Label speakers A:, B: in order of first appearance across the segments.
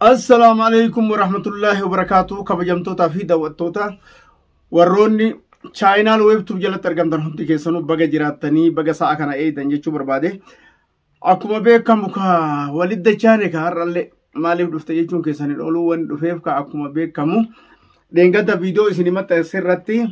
A: Assalaamu alaikum warahmatullaahi wabarakaatu kabajamtootaa fi daawwattoota warroonni chaayinaal weebtuub jalatti argamtan hundi keessanuu baga jiraattanii baga sa'a kana eegdan jechuu barbaade akkuma beekamu ka walidda chaane ka har'allee maaliif dhufte jechuun keessaniin oluu waan dhufeef ka akkuma beekamu dheengadda viidiyoo isin maxxanse irratti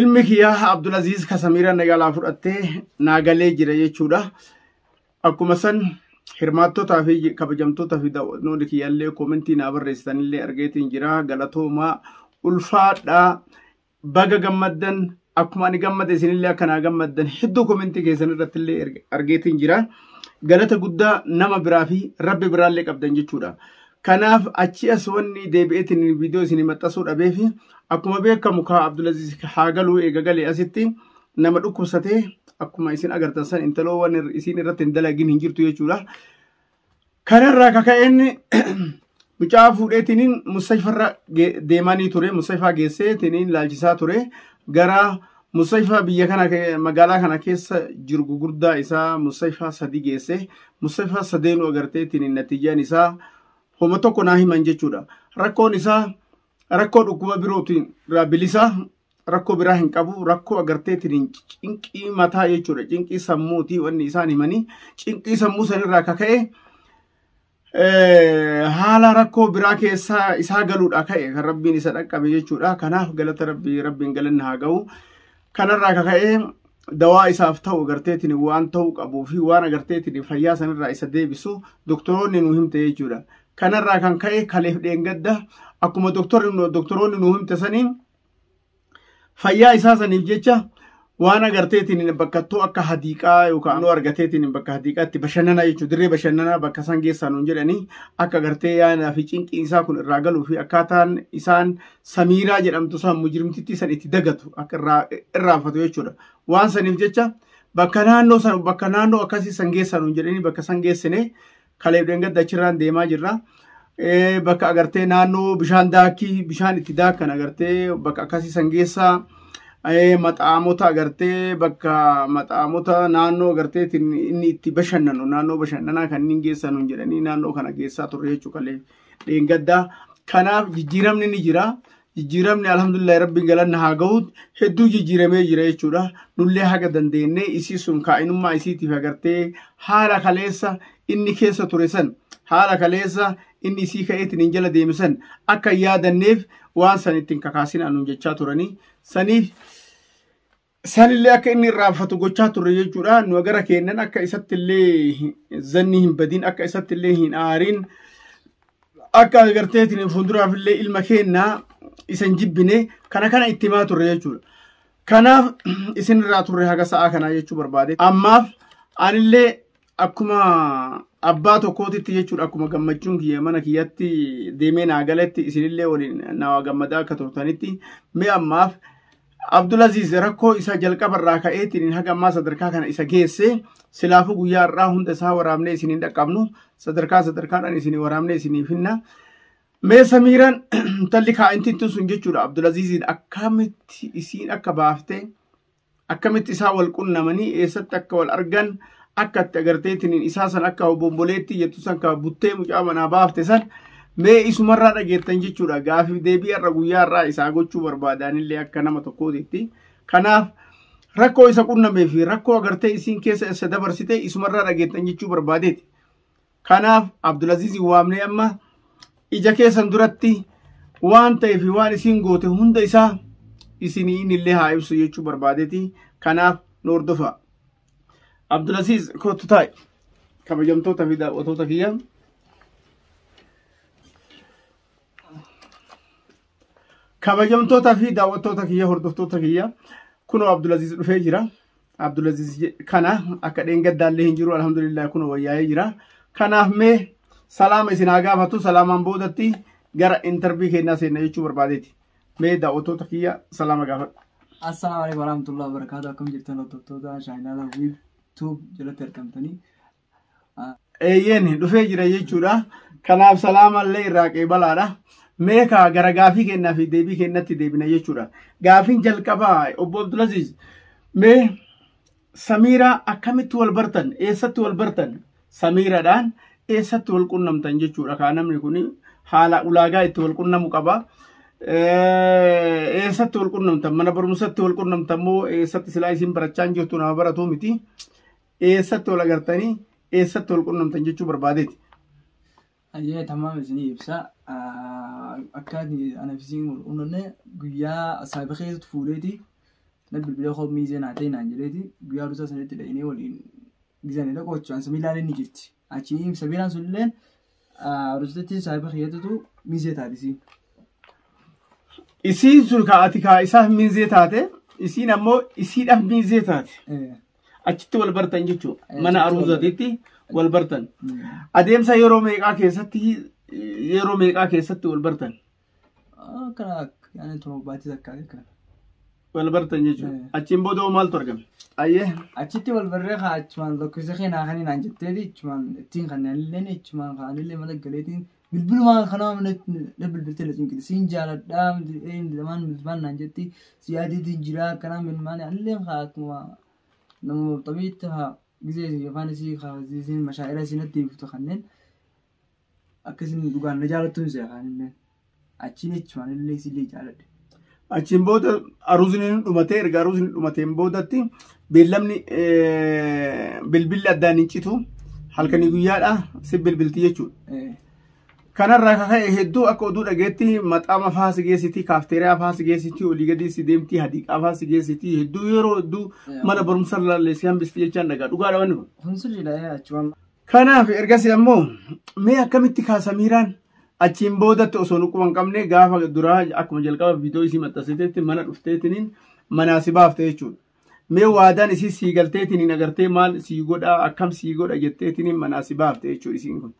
A: ilmi kiyyaa Abdulaziz Kasamiira nagalaa fudhattee naagalee jira jechuudha. Akkuma san hirmaattotaa fi kabajamtoota fi daawwatnoonni kiyyallee koomentii naa barreessitanillee argeetiin jira galatoomaa ulfaadhaa baga gammaddan akkuma ani gammade isinillee akka naa gammaddan hedduu koomentii keessan irratti illee argeetiin jira galata guddaa nama biraa fi rabbi biraallee qabdan jechuudha Kanaaf achii as wanni deebi'eetiin viidiyoo isin maxxasuu dhabeefi akkuma beekamu kaa Abdulaziz haa galuu eega galee asitti nama dhukkubsatee akkuma isin agartan san intaloo waan isin irratti hin dalagin hin jirtu jechuudha. Kanarraa kaka'een mucaa fuudheetiin mustashfarra deemanii ture mustashfaa geessee tiniin laalchisaa ture gara Musayfaa biyya kana ke- magaalaa kana keessa jiru gugurdaa isaa Musayfaa sadi geesse Musayfaa sadeenuu agarteetiin natiijaan isaa homa tokko naa himan jechuudha. Rakkoon isaa rakkoo dhukkuba birootiin irraa bilisaa rakkoo biraa hin qabu rakkoo agarteetiin cinqii mataa jechuudha cinqii sammuuti wanni isaan himanii cinqii sammuu sanirraa kaka'e haala rakkoo biraa keessaa isaa galuudha ka'e kan rabbiin isa dhaqqabe jechuudha kanaaf galata rabbii rabbiin galanni haa ga'u kanarraa ka ka'e dawaa isaaf ta'u agarteetiin waan ta'uu qabuu fi waan agarteetiin fayyaa sanirraa isa deebisu doktoroonni nu himte jechuudha kanarraa kan ka'e kaleef dheengadda akkuma doktoroonni nu himte saniin fayyaa isaa saniif jecha waan agarteetiin bakkattuu akka hadiiqaa yookaan ammoo argateetiin bakka hadiiqaatti bashannanaa jechuudha. Dirree bashannanaa bakka isaan geessan nuun jedhanii akka agartee yaanaa fi cinqiin isaa kun irraa galuu fi akkaataan isaan samiiraa jedhamtu isaan mujrimtittii san itti dagatu akka irraa irraanfatu jechuudha. Waan saniif jecha bakka naannoo san bakka naannoo akkasii san geessan nuun jedhanii bakka san geessine Kaleef dheengadda achirraan deemaa jirra. Bakka agartee naannoo bishaan daakii bishaan itti daakan agartee bakka akkasii san geessaa. maxaamota agartee bakka maxaamota naannoo agartee inni itti bashannanu naannoo bashannanaa kanneen geessan hin jedhanii naannoo kana geessaa turre jechuudha kalee dheengaddaa. Kanaaf jijjiiramni ni jira. jijjiiramni alhamdulillahi rabbiin galanna haa gahuut hedduu jijjiiramee jira jechuudha nullee haga dandeenyee isii sun kaa'inummaa isiitiif agartee haala kaleessa inni keessa ture san haala kaleessa inni isii ka'eetiin hin jala deeme san akka yaadanneef waan san ittiin kakaasin anuun jechaa turanii saniif Sanillee akka inni irraanfatu gochaa turre jechuudha. Nu gara keennan akka isatti illee zanni hin badin, akka isatti illee hin aarin, akka agarteetiin fuulduraaf illee ilma keenna isan jibbine kana kana itti himaa turre jechuudha. Kanaaf isin irraa turre haga sa'aa kanaa jechuu barbaade. Ammaaf anillee akkuma abbaa tokkootitti jechuudha akkuma gammachuun kiyya mana kiyyatti deemee naa galetti isinillee waliin naa gammadaa akka turtanitti mee ammaaf Abdulaziz rakkoo isa jalqaba irraa ka'eetiin haga ammaa sadarkaa kana isa geesse silaafuu guyyaa irraa hunda isaa waraabnee isiniin dhaqqabnu sadarkaa sadarkaadhaan isinii waraabnee isiniif finna. Mee samiiraan intalli kaa'intiin sun jechuudha Abdulaziziin akkamitti isiin akka baaftee akkamitti isaa wal qunnamanii eessatti akka wal argan akka itti agarteetiin isaa san akka obomboleetti jettu san ka buttee mucaa manaa baafte san mee isumarraa dhageettan jechuudha gaafiif deebii har'a guyyaa har'aa isaa gochuu barbaadaanillee akka nama tokkootitti kanaaf rakkoo isa qunnamee fi rakkoo agartee isiin keessa isa dabarsite isumarraa dhageettan jechuu barbaadeeti Kanaaf Abdulaziz waamnee amma ija keessan duratti waan ta'ee fi waan isiin goote hunda isaa isinii inni illee haa ibsu jechuu barbaadeeti. Kanaaf nu hordofaa. Abdulaziz kootu taa'i. Kabajamtoota fi daawwatoota kiyyaa. Kabajamtoota fi daawwattoota kiyya hordoftoota kiyya kunoo Abdulaziz dhufee jira. Abdulaziz kana akka dheengaddaallee hin jiru alhamdulillah kunoo wayyaa'ee jira. Kanaaf mee salaama isin haa gaafatu salaamaan boodatti gara intarvii kennaa seenna jechuu barbaadeeti. Mee daawwattoota kiyya salaama gaafadhu. Assalaamu alaikum
B: warahmatullahi wabarakatuh. Akkam jirtan hordoftoota chaayinaala wiib tuub jalatti argamtanii.
A: eeyyeen dhufee jira jechuudha. Kanaaf salaamallee irraa qeebalaadha. Mee kaa gara gaafii kennaa fi deebii kennatti deebina jechuudha. Gaafiin jalqabaa obbo Abdulaziz mee Samiiraa akkamitti wal bartan? Eessatti wal bartan? Samiiradhaan eessatti wal qunnamtan jechuudha. Kaa namni kun haala ulaagaa itti wal qunnamu qaba. Eessatti wal qunnamtan? Mana barumsatti wal qunnamtan moo eessatti silaa isin barachaa hin jirtu nama baratuu miti? eessatti wal agartanii eessatti wal qunnamtan jechuu barbaadeeti.
B: Ayyee tamaam isinii ibsa. Akka anaaf isin wal qunnamne guyyaa saayiba keessatti fuudheeti. Na bilbilee koo miizee naa ta'e naan jedheeti. Guyyaa rusaa sanitti dhaqnee waliin gizanidha qochuudhaan samii ilaalee ni jirti. Achi himsa biraan sunilleen arustatti saahiba kiyyatutu mizee taatisi.
A: Isiin sun ka ati kaa isaaf miizee taate isiin ammoo isiidhaaf miizee taate. Achitti wal bartan jechuudha. Eh, Mana achitti wal aruuzatiitti wal bartan. Adeemsa yeroo meeqaa keessatti yeroo meeqaa keessatti wal bartan. Kana
B: yaani torbaatti takka kana. Wal
A: bartan jechuudha. Eh. Achiin booda hoo maaltu argame? Ayyee. Achitti wal barree
B: kaa achumaan lakkoofsa keenyaa kan hinaan jetteeti achumaan ittiin kan illeen achumaan kaanillee mana galeetiin bilbilumaan kanaa mana na bilbiltee na cinqiti siin jaaladhaa lamaan bilbilaan naan jetti si yaadeetiin jiraa akkanaa milmaan illee kaa akkuma nama maxxamiitti haa gisee yookaan isii kaa isiin mashaa'ira isiin natti himtu kanneen Akka isin dhugaan na jaalattuun si afaanillee achiin echumaanillee isillee jaaladhe. Achiin booda
A: aruuzni ni dhumatee erga aruuzni dhumateen boodatti beellamni eh, bilbilli addaan hin citu halkanii guyyaadha si bilbilti jechuudha. Eh, Kanarraa kan ka'e hedduu akka oduu dhageetti maxaama faa si geessiti, kaafteeriyaa faa si geessiti, olii gadii si deemti, hadiiqaa faa si geessiti, hedduu yeroo hedduu mana barumsa laallee si hambisti jechaan dhagaa. Dhugaadha wanni kun. Kun sirriidha achumaan. Kanaaf ergasii ammoo mee akkamitti kaa Samiiraan achiin boodatti osoo nuquma hin qabne gaafa duraa akkuma jalqaba viidiyoo isii maxxansiteetti mana dhufteetiniin manaa si baafte jechuudha. Mee waadaan isii sii galteetiniin agartee maal sii godhaa akkam sii godha jetteetiniin manaa si baafte jechuudha isiin kun.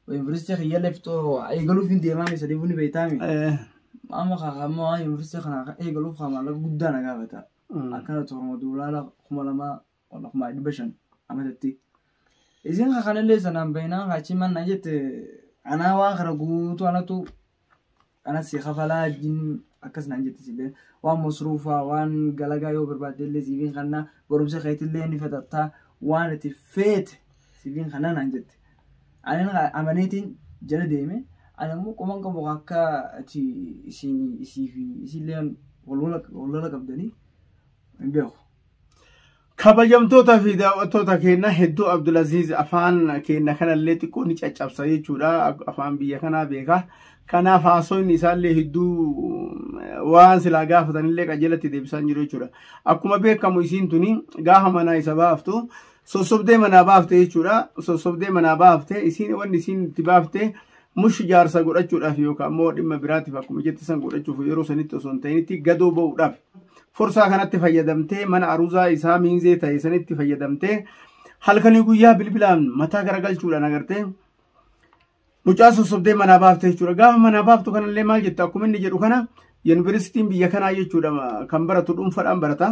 B: Yuunivarsiitii kiyyaallee fixoo eegaluuf hin deemaa mee sadii buni beektaami. Eh, Amma kaakaammoo waan yuunivarsiitii kana eegaluuf kaa maallaqa guddaa na gaafata. mm. Akkana torma duulaala kuma lamaa Wala kumaa dhibba shan amatatti. Isin ka kanallee sanaan bahinaan kaachii mannaa jette anaa waan kana guutuu anatu ana si kafalaa jin akkas naan jette silleen waan masruufaa waan galagaa yoo barbaadde illee siifin kannaa barumsa keetillee ni fixattaa waan itti feete siifin kannaa naan jette. Ani na- amaneetiin jala deeme ani ammoo qoman qabu akka ati isin isii fi isillee wal wal- wal lola qabdanii hin beeku. Kabajamtoota
A: fi daawwattoota keenya hedduu Abdulaziz afaan keenya kanallee xiqqoo ni caccabsa jechuudha. Afaan biyya kanaa beeka. Kanaaf haasofni isaallee hedduu waan silaa gaafatanillee qajeelatti deebisaa hin jiru jechuudha. Akkuma beekamu isiin tuni gaafa manaa isa baaftu sossobdee manaa baafte jechuudha. Sossobdee manaa baafte isiin wanni isiin itti baafte Mush jaarsa godhachuudhaaf yookaan immoo dhimma biraatiif akkuma jette san godhachuuf yeroo sanitti osoo hin ta'initti gadoo ba'uudhaaf forsaa kanatti fayyadamtee mana aruzaa isaa miinzee ta'e sanitti fayyadamtee halkanii guyyaa bilbilaan mataa garagalchuudhaan agartee mucaa sossobdee manaa baafte jechuudha. Gaafa manaa baaftu kanallee maal jetta akkuma inni jedhu kana yuunivarsiitiin biyya kanaa jechuudha kan baratu dhuunfaadhaan barata.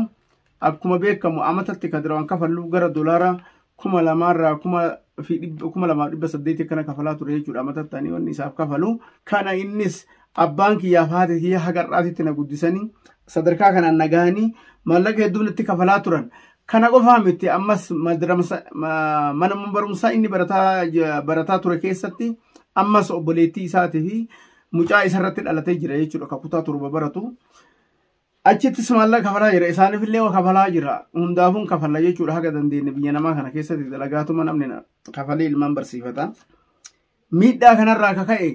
A: Akkuma beekamu amatatti kan duraan kafallu gara dolaara kuma lamaarraa kuma fi dhibba- kuma lamaaf dhibba saddeetii kana kafalaa ture jechuudha amatatti ani wanni isaaf kafalu. Kana innis abbaan kiyyaaf haati kiyya haga har'aatitti na guddisanii sadarkaa kanaan na gahanii maallaqa hedduun itti kafalaa turan. Kana qofaa miti ammas madramsa- ma- mana barumsaa inni barataa j- barataa ture keessatti ammas obboleettii isaatii fi mucaa isarratti dhalatee jira jechuudha kan kutaa torba baratu. Achittis maallaqa kafalaa jira. Isaanifillee waa kafalaa jira. Hundaafuu hin kafalla jechuudha haga dandeenye biyya namaa kana keessatti dalagaatuma namni na- kafalee ilmaan barsiifata. Miidhaa kanarraa akka ka'e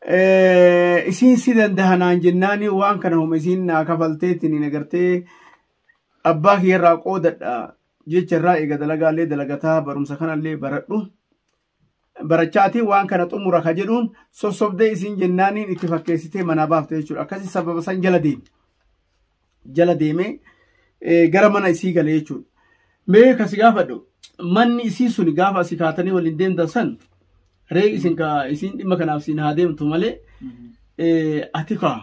A: eh, isiin si danda'a naan jennaani waan kana homa isiin naa kafalteetiin hin agartee abbaa kiyyarraa qoodadha jecharraa eega dalagaallee dalagataa barumsa kanallee baradhu. barachaatiin waan kana xumura ka jedhuun sossobdee isiin jennaaniin itti fakkeessitee manaa baafte jechuudha akkasi sababa san jala deeme jala deemee gara mana isii gale jechuudha mee kasi gaafadhu manni isii suni gaafa asii kaatanii waliin deemtan san ree isin ka isiin dhimma kanaaf siin haa deemtu malee ati kaa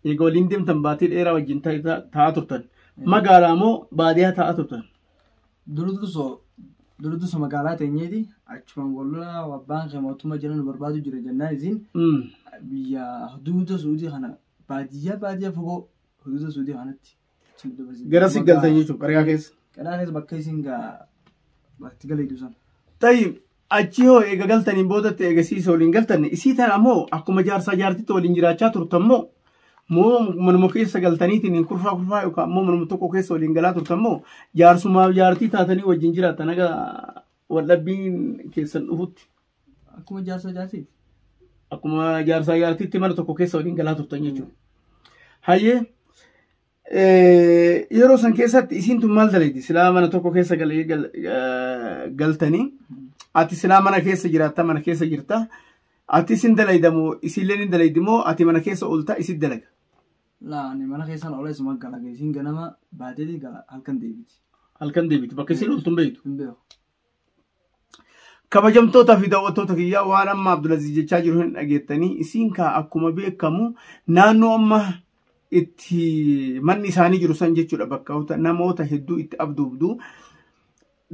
A: eega waliin deemtan baatii dheeraa wajjin ta'aa turtan magaalaa moo baadiyaa ta'aa turtan
B: Durduso magaalaa teenyeeti achumaan wal lolaa abbaan kee mootummaa jala nu barbaadu jira jennaan isiin biyya huduuda suudii kana baadiyyaa baadiyyaa fagoo huduuda suudii kanatti achi nu dabarse. Gara si
A: galtan jechuudha qariyaa
B: keessa.
A: Qeraa keessa
B: bakka isiin gaa
A: bakka itti
B: galee dusan.
A: Tayyib
B: Achii
A: hoo eega galtaniin boodatti eega isii isa waliin galtanne isii tana ammoo akkuma jaarsaa jaartitti waliin jiraachaa turtan moo moo manuma keessa galtaniitiin hin kurfaa kurfaa yookaan ammoo manuma tokko keessa waliin galaa turtan moo jaarsumaaf jaartii taatanii wajjin jiraatan haga waldhabbiin keessan dhufutti Akkuma jaarsaa
B: jaartii. akkuma
A: jaarsaa jaartiitti mana tokko keessa waliin galaa turtan jechuudha. Hayyee Yeroo san keessatti isiin tun maal dalagdi? Silaa mana tokko keessa galee galtanii ati silaa mana keessa jiraatta mana keessa jirta. Ati isin dalayda moo isillee ni dalaydi moo ati mana keessa oolta isin dalaga? Laa ani
B: mana keessaan olee suma gala isiin ganama baateeti gala halkan deebiti. Halkan deebiti bakka
A: isin ooltu hin beektu. Hin beeku. Kabajamtootaa fi daawwattoota kiyyaa waan amma Abdulaziz jechaa jiru hin dhageettanii isiin kaa akkuma beekamu naannoo amma itti manni isaanii jiru san jechuudha bakka namoota hedduu itti abduubdu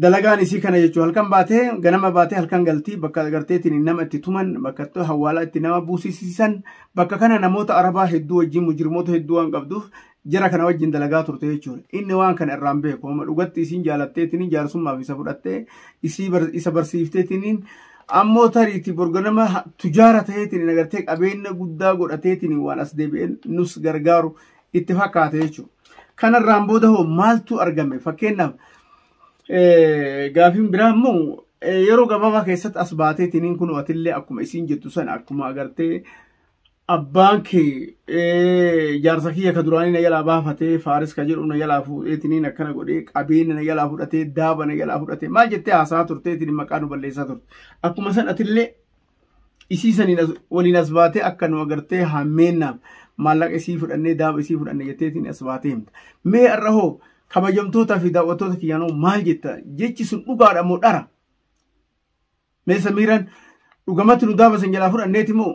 A: dalagaan isii kana jechuun halkan baatee ganama baatee halkan galtii bakka garteetiin nama itti tuman bakka hawaalaa itti nama buusisiisan bakka kana namoota arabaa hedduu wajjin mujirmoota hedduu waan qabduuf jara kana wajjin dalagaa turte jechuudha. Inni waan kana irraan beeku amma dhugatti isiin jaalatteetiniin jaarsummaaf isa fudhattee isii bar- isa barsiifteetiniin ammoo tariiti borga nama ha- tujaara ta'eetiin agartee qabeenya guddaa godhateetiin waan as deebi'een nus gargaaru itti fakkaate jechuudha. Kanarraan booda hoo maaltu argame fakkeenyaaf Eh, gaafiin biraa immoo eh, yeroo gabaabaa keessatti as baateetiniin kun atillee akkuma isiin jettu sana akkuma agartee abbaan kee eh, jaarsa kiyya ka duraanii na jalaa baafatee faaris ka jedhu na jalaa fuudheetiniin akkana godhee qabeenya na jalaa fudhatee daaba na jalaa fudhatee maal jettee haasaa turteetiin maqaa nu balleessaa turte akkuma san atillee isii saniin as- waliin as baatee akka nu agartee hammeennaaf maallaqa isii fudhannee daaba isii fudhanne jetteetiin as baatee himta mee har'a hoo kabajamtootaa fi daawwattoota kiyyaanoo maal jetta jechi sun dhugaadha moo dhara Mee Samiiraan dhugamatti nu daaba san jalaa fudhanneeti moo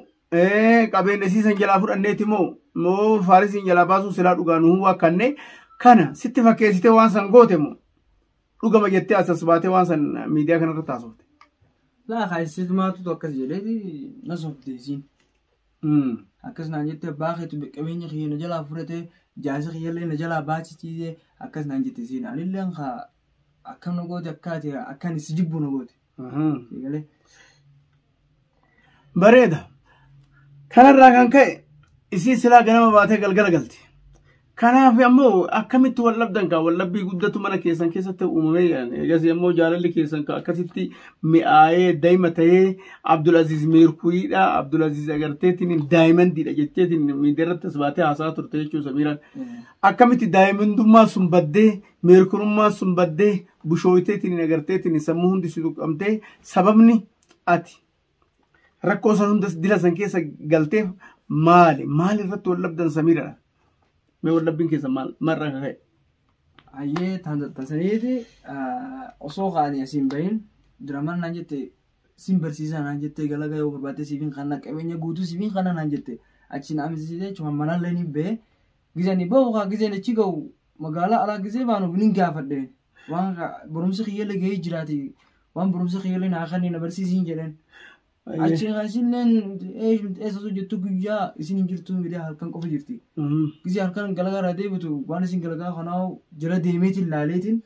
A: qabeenya siisan jalaa fudhanneeti moo moo faarisiin jalaa baasuu silaa dhugaa nu waakkanne kana sitti fakkeessitee waan san goote moo dhugama jettee asas baatee waan san miidiyaa kanarra taasifte. Laa
B: kaayisitu maatutu akkas jedheeti na sobdeesiin. Akkas naan jettee abbaa keetu qabeenya kiyya na jalaa fudhatee jaarsa kiyyallee na jalaa baachisiisee akkas naan jette siin anillee akkam na goote akkaati akkan si jibbu na goote.
A: Bareeda. Kanarraa kan ka'e isiin silaa ganama baatee galgala galti. Kanaaf ammoo akkamitti wal dhabdan kaa wal dhabbii guddatu mana keessan keessatti uumamee jedhan. Eegas ammoo jaalalli keessan kaa akkasitti mi'aayee daa'ima ta'ee Abdulaziz Meerkuyiidha. Abdulaziz agarteetiin daa'imandiidha jetteetiin miidiyaa irratti as baatee haasaa turte jechuun Samiiraan. Akkamitti daa'imandummaa sun baddee Meerkurummaan sun baddee bushooyteetiin agarteetiin sammuu hundi si tuqqamtee sababni ati rakkoo san hundas dila san keessa galteef maali? Maal irratti wal dhabdan samiidha? Mee wal dhabbiin keessa maal marra akka ka'e? Ayyee
B: taasisaniiti osoo kaanii asiin bahin diraman naan jette sin barsiisaa naan jette galagaa yoo barbaadde siifin kanna qabeenya guutuu siifin kanna naan jette achiin amisiisee jechuun manallee ni ba'e Gizani bahu kaa gizeen achi gahu magaalaa alaa gizee baanu binin gaafadhe waan barumsi kiyyallee gahee jiraati waan barumsi kiyyallee naa kannee na barsiisiin jedheen. Achi kaasilleen eessa osoo jettu guyyaa isin hin jirtu miidhaa halkan qofa jirti. Gizee halkan galagaa irraa deebitu waan isin galagaa kanaa jala deemeetiin laaleetiin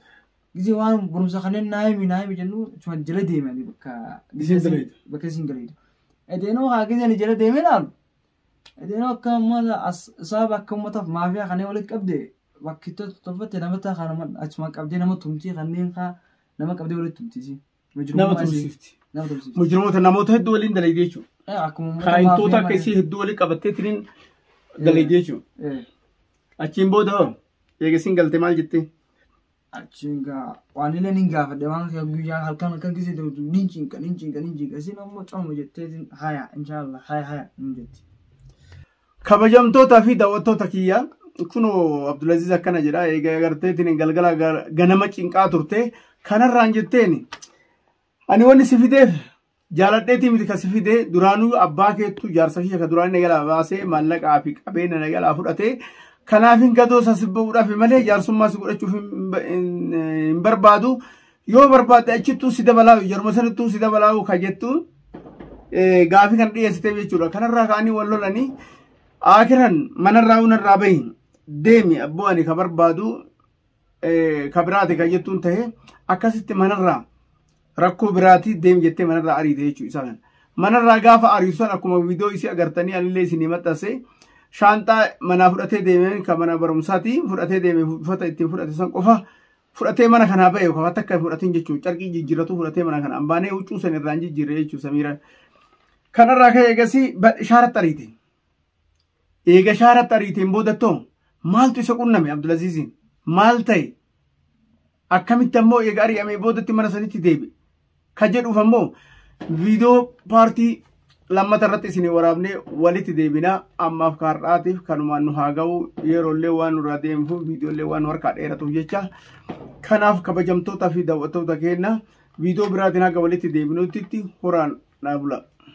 B: gizee waan barumsa kanneen naa himi naa himi jennu tuman jala deemanii bakka Isin galeetu. bakka isin galeetu. Edeenoo haa gizeen jala deemee laalu Yeroo akka uummata as- sababa akka uummataaf maafiyaa kanneen walitti qabde bakki to- tolfatte nama ta'a kan nama achuma qabdee nama tumtii kanneen kaa nama qabdee walitti tumtiisi. Nama Mujrumummaa isii- tumsifti. Nama
A: tumsiifti. Mujrimoota namoota hedduu waliin dalagdee jechuudha. Eh, Akkuma uummata Kaayintoota maafiyaa akka malee. isii hedduu walii qabattee tiriin dalagdee jechuudha. Eh, Achiin booda hoo eegasiin galte maal jettee? achiin
B: gaa waan illee nin gaafadhe waan kee guyyaa halkan halkan gisee ta'utu nin cinqa nin cinqa nin cinqa isin ammoo coomu jetteetiin haya inshaallah haya haya nin jetti.
A: Kabajamtootaa fi daawwattoota kiyya kunoo Abdulaziz akkana jedha eega agarteetiin galgala ganama cinqaa turte kanarraan jetteen ani wanni si fideef Jaaladheetii miti kasi fide duraanuu abbaa keettu jaarsa kiyya ka duraanii na jalaa baasee maallaqaa fi qabeenya na jalaa fudhate kanaaf hin gadoo isa si ba'uudhaaf malee jaarsummaa si godhachuuf hin ba- hin- hin barbaadu yoo barbaadde achittuu si dabalaa jaruma sanittuu si dabalaa ka jettu eh, gaafii kan dhiyeessiteef jechuudha kanarraa ka'anii wal lolanii aakiran manarraa unarraa bahi deemi abboo ani ka barbaadu ka biraati kan jettuun ta'e akkasitti manarraa rakkoo biraati deem jettee manarraa ariite jechuu isaa kana. Manarraa gaafa ariitu san akkuma viidiyoo isii agartanii anillee isinii maxxansee shaanxaa manaa fudhatee deemeen kan mana barumsaati fudhatee deemee uffata ittiin fudhate san qofa fudhatee mana kanaa ba'e qofa takka hin fudhatin jechuun carqii jijjiirratu fudhatee mana kanaan baanee huccuu san irraan jijjiirre jechuun samiira kanarraa ka'e eegasii ishaaratti ariite. Eega shaaratti ariiteen boodattoo maaltu isa qunname Abdulaziiziin? Maal ta'e? Akkamitti ammoo eega ari'amee boodatti mana sanitti deebi'e? Ka jedhuuf ammoo viidiyoo paartii lammata irratti isin waraabnee walitti deebinaa ammaaf kaar'aatiif kanumaan nu haa ga'u yeroollee waan nurraa deemuuf viidiyoollee waan nu harkaa dheeratuuf jecha kanaaf kabajamtootaa fi daawwattoota keenya viidiyoo biraatiin haga walitti deebinuutti horaan dhaabula.